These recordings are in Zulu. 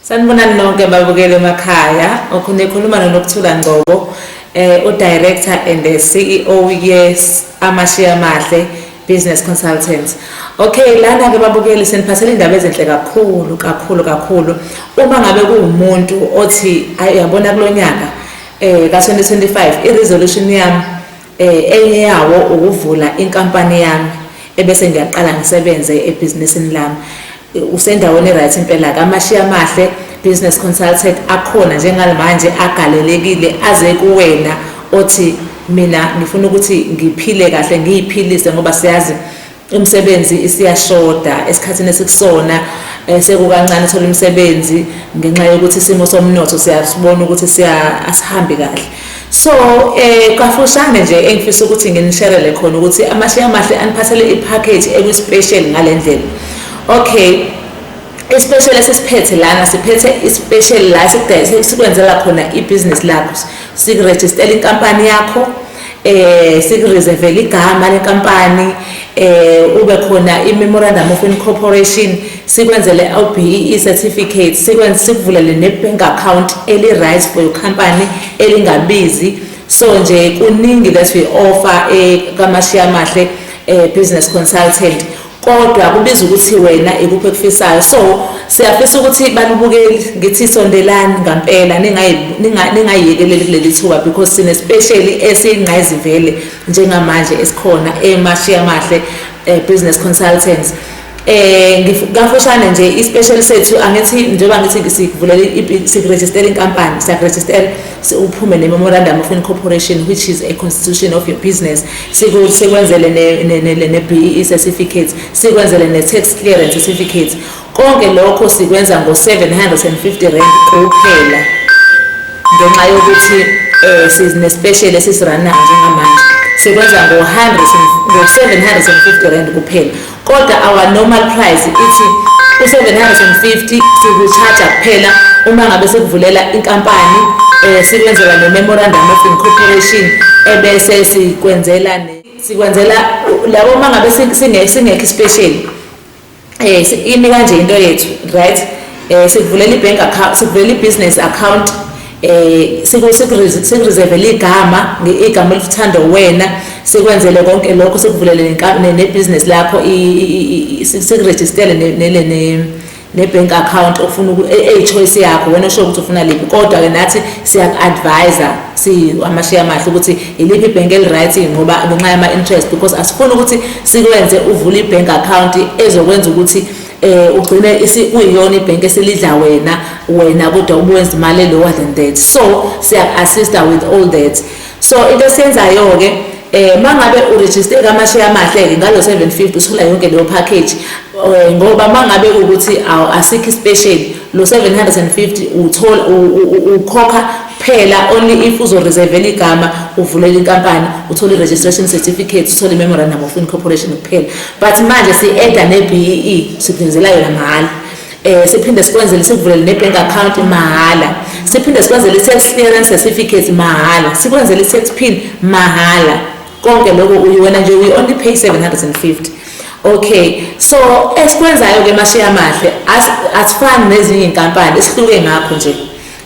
Sanibonani nonke babukeli emakhaya. Okhona ekhuluma noNokuthula Ngcobo, eh udirector and the CEO yes Amashiya Amahle Business Consultants. Okay, lana ke babukeli seniphathele indaba ezinhle kakhulu kakhulu kakhulu. Uma ngabe kuwumuntu othi ayabona kulonyaka eh ka 2025 i resolution yami Enye yawo ukuvula inkampani yami ebese ngiyaqala ngisebenze ebhizinisini lami. Usendaweni e-right impela ke. Amashiyi amahle, business consultant, akhona njengamanje agalelekile aze kuwena othi mina ngifuna ukuthi ngiphile kahle, ngiyiphilise ngoba siyazi Imisebenzi isiyashoda esikhathini esikusona eh, sekukancane thola imisebenzi ngenxa yokuthi isimo somnotho siyasibona ukuthi siya asihambi kahle so eh kafushane nje engifisa ukuthi nginisherele khona ukuthi amashiya amahle aniphathele ipackage ekuspecial ngalendlela okay especially esesiphethe lana siphethe ispecial la sikudayisekwenzela khona ibusiness lakho sikurejistela inkampani yakho eh sikureservele igama lenkampani eh ube khona i-memorandum of incorporation sikwenzele LBE certificate sikwenze sikuvulele ne-bank account eli-right for your company elingabizi so nje kuningi that we offer eh kamashiya amahle eh business consultant kodwa kubiza ukuthi wena ikuphi ekufisayo so siyafisa ukuthi balubukeli ngithi sondelani ngampela ningayiyekeleli kuleli thuba because sine special esiyingqayizivele njengamanje esikhona emashiya amahle eh, business consultants eh kafushane nje ispecial sethu angithi njengoba ngithi sivulele siregister inkampani siyaregister uphume ne memorandum of incorporation which is a constitution of your business sikwenzele ne-BEE certificate sikwenzele ne-tax clearance certificate konke lokho sikwenza ngo-750 rand kuphela ngenxa yokuthi um sinesipesheli esisiranayo njengamanje sikwenza ngo-750 rand kuphela Kodwa our normal price ithi u-750 siku-charge-a kuphela uma ngabe sikuvulela inkampani um sikwenzela ne-memorandum of incorporation ebese sikwenzela sikwenzela labo uma ngabe singekho isipesheli um eh, imi kanje into yethu right um sikuvulela i-bank account sikuvulela i-business account eh sikureserve ligama igama elithanda wena sikwenzele konke lokho sikuvulele nebusiness lakho sikuregistele ne-bank account ofuna eyi-choice e, yakho wena osho ukuthi ufuna liphi kodwa-ke nathi siyaku-advisa amashiya amahle ukuthi yiliphi ibhenk eli-right ngoba ngenxa yama-interest because asifuni ukuthi sikwenze uvule i-bank account ezokwenza ukuthi eh ugcine kuyiyona ibhenki esilidla wena wena kodwa ubuwenza imali lower than that so siyaku-assista with all that so into esiyenzayo-ke eh mangabe uregister kamasheya amahle-ke ngalo 750 usula yonke leyo package eh, ngoba mangabe ukuthi asikho ispecial lo 750 uthola ukhokha kuphela only if uzoreservela igama uvulela inkampani uthole i-registration certificate uthole i-memorandum of incorporation kuphela but manje si-eda ne-bee e, siphindela yona mahhala eh siphinde sikwenzele sikuvulele ne-bank account mahhala siphinde sikwenzele i-tax clearance certificate mahhala sikwenzele i-tax pin mahhala konke lokho uyi wena nje we only pay 750 okay so esikwenzayo ke mashiya amahle asifani nezinye inkampani isihluke ngakho nje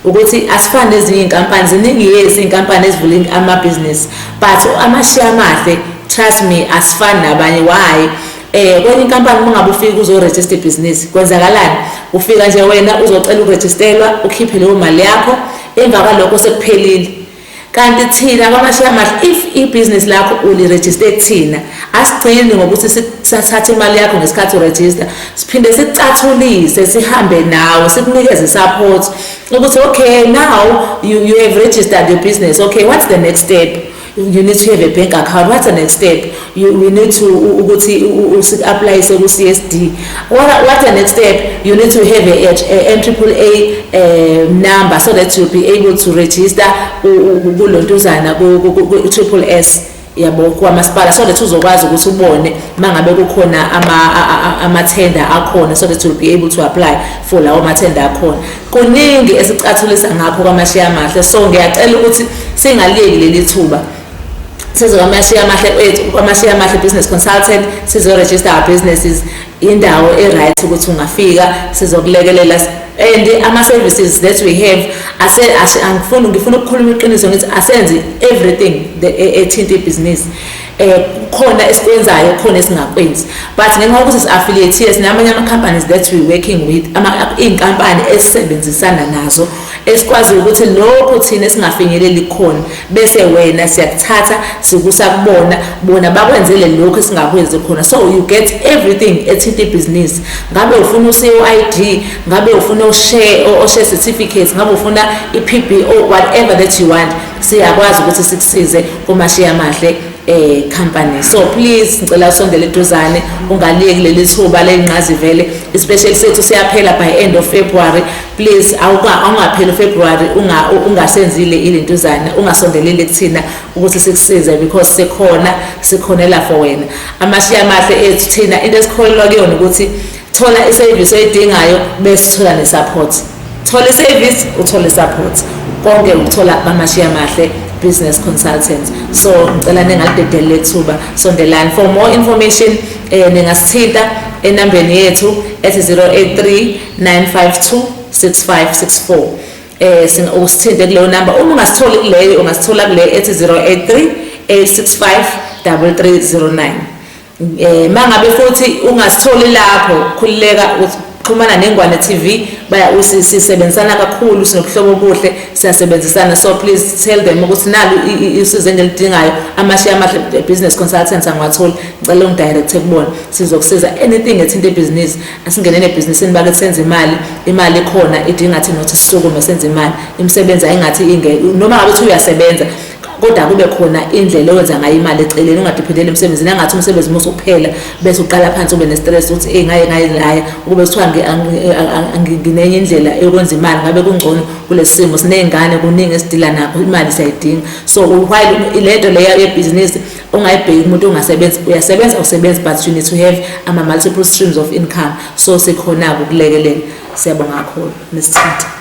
ukuthi asifani nezinye inkampani ziningi yezi inkampani ezivule ama business but amashiya amahle trust me asifani nabanye why eh kwenye inkampani uma ngabe ufika uzoregister business kwenzakalani ufika nje wena uzocela uregisterwa ukhiphe leyo mali yakho emva kwalokho sekuphelile Kanti thina kwamashiya amahle if ibhizinisi lakho ulirejiste kuthina asigcini ngokuthi sithathe imali yakho ngesikhathi urejista siphinde sikucathulise sihambe nawe sikunikeze support ukuthi okay now you, you have registered your business okay what's the next step you need to have a bank account what's the next step You, we need to ukuthi usiapplyise ku CSD. What what the next step? You need to have a, a, a NAAA uh, eh, number so that you'll be able to register kulontuzana ku triple S yabo kwamasipala so that uzokwazi ukuthi ubone mangabe kukhona ama ama tender akhona so that you'll be able to apply for lawo ma tender akhona kuningi esicathulisa ngakho kwamashiya amahle so ngiyacela ukuthi singaliyeki leli thuba size kwamashiya amahle kwethu eh, kwamashiya amahle business consultant sizoregister our businesses indawo e-right ukuthi ungafika sizokulekelela and ama-services that we have angifuni ngifuna ukukhuluma iqiniso ngithi asenzi everything e-, ethinta ibhizinisi um eh, khona esikwenzayo khona esingakwenzi but ngenxa yokuthi si-affiliate yes namanye ama-companies that we working with iy'nkampani esisebenzisana nazo esikwaziyo ukuthi lokhu thina esingafinyeleli khona bese wena siyakuthatha sikusa kubona bona bakwenzele lokho esingakwenzi khona so you get everything ethinta ibhizinisi ngabe ufuna uCID ngabe ufuna ushare oshare certificate ngabe ufuna iPBO whatever that you want siyakwazi ukuthi sikusize uma shiya mahle eh company so please ngicela usondele eduzane ungaliyeki leli thuba lengqazi vele especially sethu siyaphela by end of February please awungapheli ufebruary ungasenzile ilentuzana ungasondeleli kuthina ukuthi sikusize because sikhona sikhonela for wena amashiya amahle ethu thina into esikholelwa kuyona ukuthi thola isevisi oyidingayo bese thola nesupport thola isevisi uthole isupport konke ukuthola kwamashiya amahle business consultants so ngicela ningalidedeli lethuba sondelani for more information eh ningasithinta enambeni yethu ethi 083 9526564 eh sina usithinte kuleyo number uma ungasitholi kuleyo ungasithola kule ethi 083 865 3309 eh mangabe futhi ungasitholi lapho khulileka xhumana nengwane TV baya usisebenzisana kakhulu sinobuhlobo obuhle siyasebenzisana so please tell them ukuthi nalu usizo engilidingayo amashiya amahle business consultants angiwatholi ngicela ungidirect kubona sizokusiza anything ethinta ibhizinisi asingenele ebhizinisini bakithi senze imali imali ikhona idinga thina ukuthi sisukume senze imali imisebenzi ayingathi inge noma ngabe uthi uyasebenza kodwa kube khona indlela owenza ngayo imali eceleni ungadiphendeli emsebenzini angathi umsebenzi uma usuphela bese uqala phansi ube nestress ukuthi eyi ngaye ngaye laya ukube kuthiwa nginenye indlela yokwenza imali ngabe kungcono kulesi simo siney'ngane kuningi esidila nakho imali siyayidinga so while le nto leya yebhizinisi ungayibheki umuntu ongasebenzi uyasebenza usebenzi but you need to have ama multiple streams of income so sikhona-ke ukulekelela siyabonga kakhulu nesithatha